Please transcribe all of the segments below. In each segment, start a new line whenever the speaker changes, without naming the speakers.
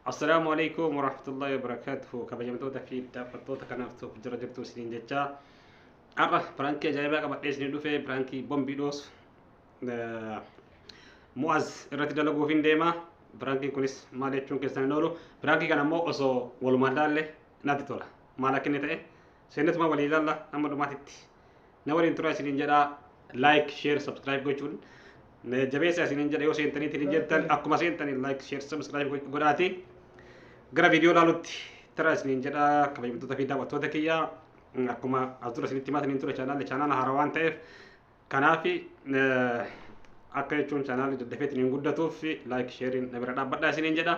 Assalaamu alaikum warahmatullahi wabarakatuh kabajamtoota fi daawwattoota kanaaf tokko jira jirtu isiniin jechaa har'a piraankii ajaa'ibaa qabadhee isinii dhufe piraankii bombii dhoosu mu'az irratti dalaguuf hin deema piraankiin kunis maal jechuun keessan hin oolu piraankii kana immoo osoo walumaan laalle natti tola maal akka inni ta'e seenatumaa walii ilaalla amma dhumaatitti na waliin turaa isiniin jedhaa like share subscribe gochuun na jabeessa isiniin jedha yoo seentanii ittiin jettan akkuma seentanii like share subscribe godhaati gara viidiyoo ilaalutti tara isiniin jedha kabajamtoota fi daawwattoota kiyya akkuma as dura isinitti himaa isiniin ture chaanaalli chaanaala haaraa waan ta'eef Kanaaf akka jechuun chaanaalli daddafeetiin hin guddatuuf laayik sheeriin na bira dhaabbadhaa isiniin jedha.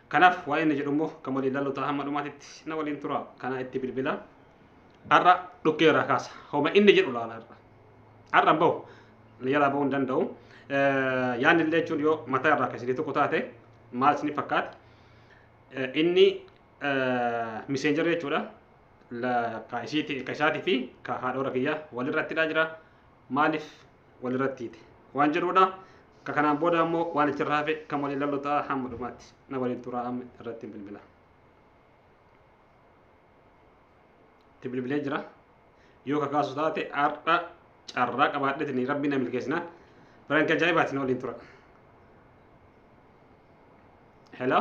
Kanaaf waa'ee inni jedhu immoo kan waliin laallu ta'a hamma dhumaatitti na waliin tura. Kanaa itti bilbila. Har'a dhukkee irraa kaasa. Homa inni jedhu laala har'a. Har'a hin bahu. Na jalaa bahuu hin danda'u. Yaanni illee jechuun yoo mataa irraa kan isinii tokko taate maal isinii fakkaata? Inni miseenjarri jechuudha. ka isiiti ka isaati fi ka haadhoora kiyya walirrattidha jira maaliif walirrattiiti waan jedhuudha ka kanaan booda ammoo waan itti irraa hafe kan waliin lallu ta'a hamma dhumaatti na waliin turaa amma irratti bilbila itti bilbilee jira yoo ka kaasu taate har'a carraa qabaadheetini rabbi na milkeessinaan biranka ajaa'ibaati na waliin tura hello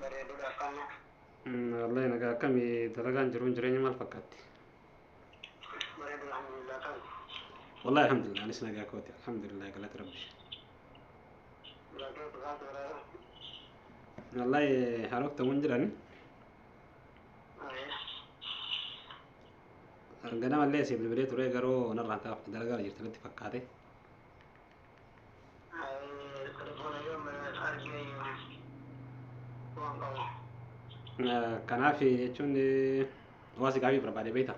Bareedudha akkana. Wallahi nagaa akkami dalagaan jiruun jireenya maal fakkaatti? Bareedudha alhamdulillah kan. Wallahi alhamdulillah anis nagaa kooti alhamdulillah galata rabbi. Bareedudha bareedudha bareedudha. Wallahi harooftamuun jirani Ayya. ganamallee siif bilbilee ture garuu narraan kaafte dalagaa jirti natti fakkaate. Kanaaf jechuun waa si gaafii barbaade beekta.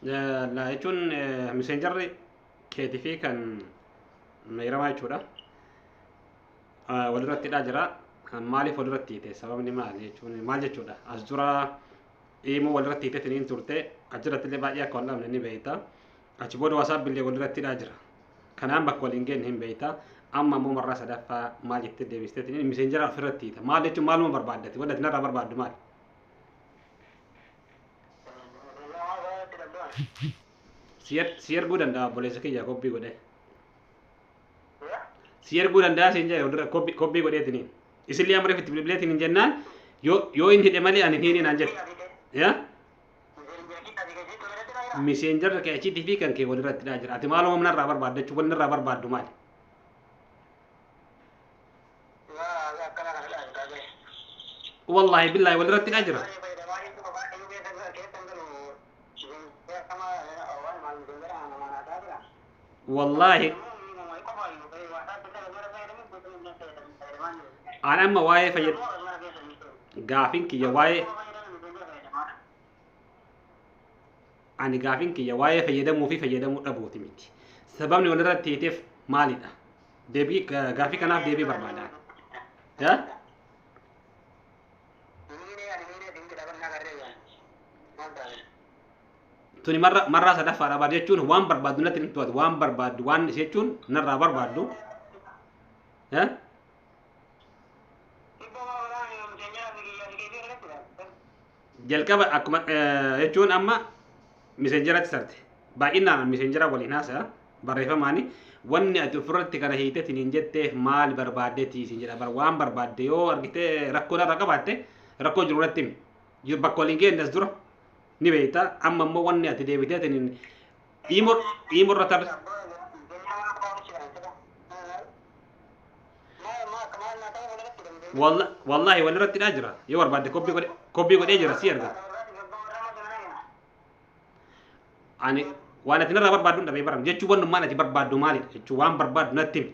Laa jechuun miseenjarri keetii fi kan meeyramaa jechuudha. Walirratti hidhaa jira. Maaliif walirratti hiite? Sababni maali jechuun maal jechuudha? As dura iimoo walirratti hitetiniin turte achirratti illee baay'ee akka wal dhabne ni beekta achi booda wasaabbi illee walirratti hidhaa jira kanaan bakka waliin geenye hin beekta amma ammoo marraa sadaffaa maal jettee deebisteetiin miseenjera ofirratti hiita maal jechuun maaluma barbaaddati wadda atinarraa barbaaddu maal si er- si erguu danda'a obboleessa kiyya kobbii godhee si erguu danda'a siin jedhe walirra kobbii kobbii godheetiniin isillee amma reefu itti bilbileetiin hin jennaan yoo yoo hin hidhe malee ani hin hiine naan jette yaa miseenjarra kee achiitii fi kan kee walirratti dhaa jira ati maaloo humna irraa barbaaddachuu wanni irraa barbaaddu maali wallaahi billaahi walirratti dhaa jira wallaahi an amma waa'ee fayyad gaafin kiyya waa'ee ani gaafin kiyya waa'ee fayyadamuu fi fayyadamuu dhabuuti miti sababni walirratti hiiteef maalidha deebii gaafii kanaaf deebii barbaada yaa tuni marra marraa sadaffaa dhabaad jechuun waan barbaaddu natti hin to'atu waan barbaaddu waan si jechuun narraa barbaaddu eh? jalqaba akkuma eh, jechuun amma miseenjeratti sarte baay'inaan miseenjera waliin haasaya barreeffamaani wanni ati ofirratti kana hiiteetiin hin jetteef maal barbaaddeetii siin jedha bar waan barbaadde yoo argite rakkoo irra qabaatte rakkoo jiru irratti himi Jiru- bakka waliin geenyes dura ni beekta amma immoo wanni ati deebitee tiniin iimo iimo irra tar walla- wallaahi wal irratti dhaa jira yoo barbaadde kopii godhe kopii godhee jira si erga ani waan ati narraa barbaaddu hin dhabee baram jechuu wannummaan ati barbaaddu maalidha jechuu waan barbaaddu natti himi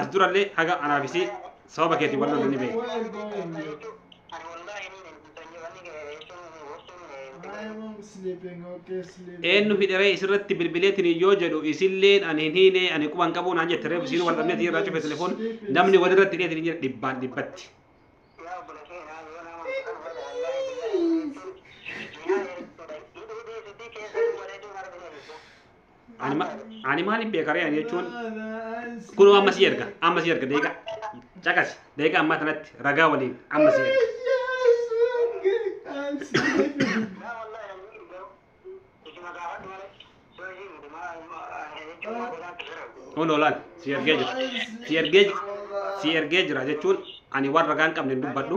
As durallee haga anaaf isii sababa keetiin wal loluu ni beeku. Eenyu hidharee isirratti bilbileetiin yoo jedhu isilleen ani hin hiine ani quban qabu naan jette reefu isiin wal dhabnee tiin irraa cufe telefoon namni walirratti hidheetiin hin jedhe dhibbaan dhibbatti. Ani ma- ani maaliif beeka ree ani jechuun kunoo amma si erga amma si erga deeqa caqasi deeqa ammaa tanatti ragaa waliin amma si erga. Kun oolaan si ergee jira si ergee ji- si ergee jira jechuun ani waan ragaa hin qabne hin dubbadhu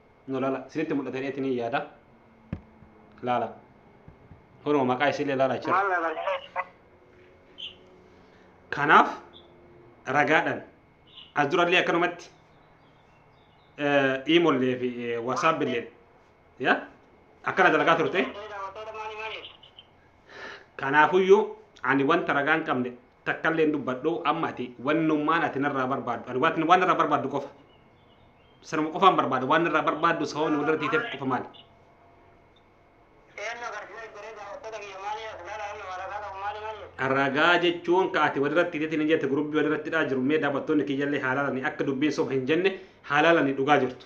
no laala isinitti mul'ata jedheetiin hin yaada laala kunoo maqaa isiillee laala jira Maal laala? kanaaf ragaadhaan as durallee akkanumatti iimollee fi wasaapillee ya akkana dalagaa turte Maal maal? kanaafuyyuu ani wanta ragaan qabne takkallee hin dubbadhu amma ati wannummaan ati narraa barbaaddu ani waan waan narraa barbaaddu qofa sanuma qofaan barbaada waan narraa barbaaddu sababni walirra tiiteef qofa maali Eenyu agarsiisa garee daawwattoota kiyya maali as laala amma maragaa qabu maali maali jedhu. ragaa jechuun ka ati walirra tiiteetiin hin jette gurubbii walirra tidhaa jiru mee daawwattoonni kiyyallee haalaalani akka dubbiin soba hin jenne haalaalani dhugaa jirtu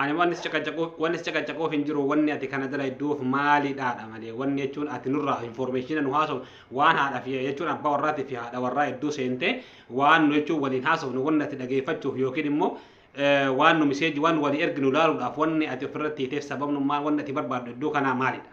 Ani wanni si caqacaqu- wanni si caqacaquuf hin jiru wanni ati kana dalayduuf maalidhaadha malee wanni jechuun ati nurraa informeeshina nu haasofnu waan haadha fi jechuun abbaa warraatii fi haadha warraa hedduu seentee waan nu jechuun waliin haasofnu wanni ati dhageeffachuuf yookiin immoo eh, waan nu miseeji waan walii erginu ilaaluudhaaf wanni ati ofirratti hiiteef sababnu maal wanni ati barbaaddu iddoo kanaa maalidha.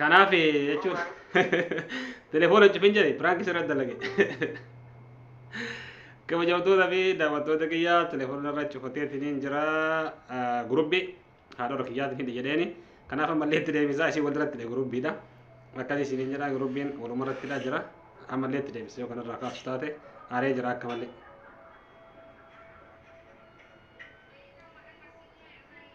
Kanaaf jechuun telefoona cufin jedhe piraanki sirratti dalage. Kabajamtoota fi daawwattoota kiyyaa telefoona irra cufateetiin jira gurubbi haadha kiyyaatiin hidhi jedheeni. Kanaaf ammallee itti deebisaa isin walirratti dha gurubbiidha. Akkas isin jedha gurubbiin walumarratti dha jira. Ammallee itti deebisa yoo kanarraa kaasu taate aaree jira akka malee.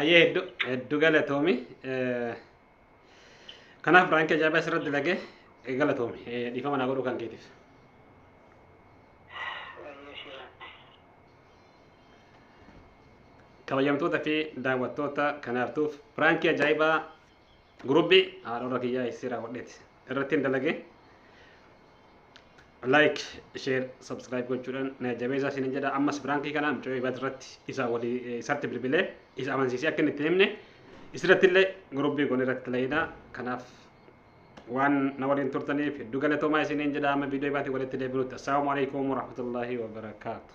Ayyee heddu heddu galatoomi. Eh, Kanaaf biraanki ajaa'ibaa asirratti lagee eh, galatoomi. Eh, Dhiifama naa godhuu kan keetiif. Kabajamtoota fi daawwattoota kanaaftuuf biraanki ajaa'ibaa gurubbii haadhorra kiyyaa isii raawwadheeti. Irratti hin dalagee. like share subscribe gochuudhaan na jabeessaa isin jedha ammas biraankii kana mucayyoo ibad irratti isa walii isatti bilbilee isa amansiisee akka inni itti himne isirratti illee gurubbii goon irratti layina kanaaf waan na waliin turtaniif hedduu galatoomaa isiniin jedha amma viidiyoo ibaatii walitti deebinutti assalaamu alaikum warahmatullaahi wabarakaatu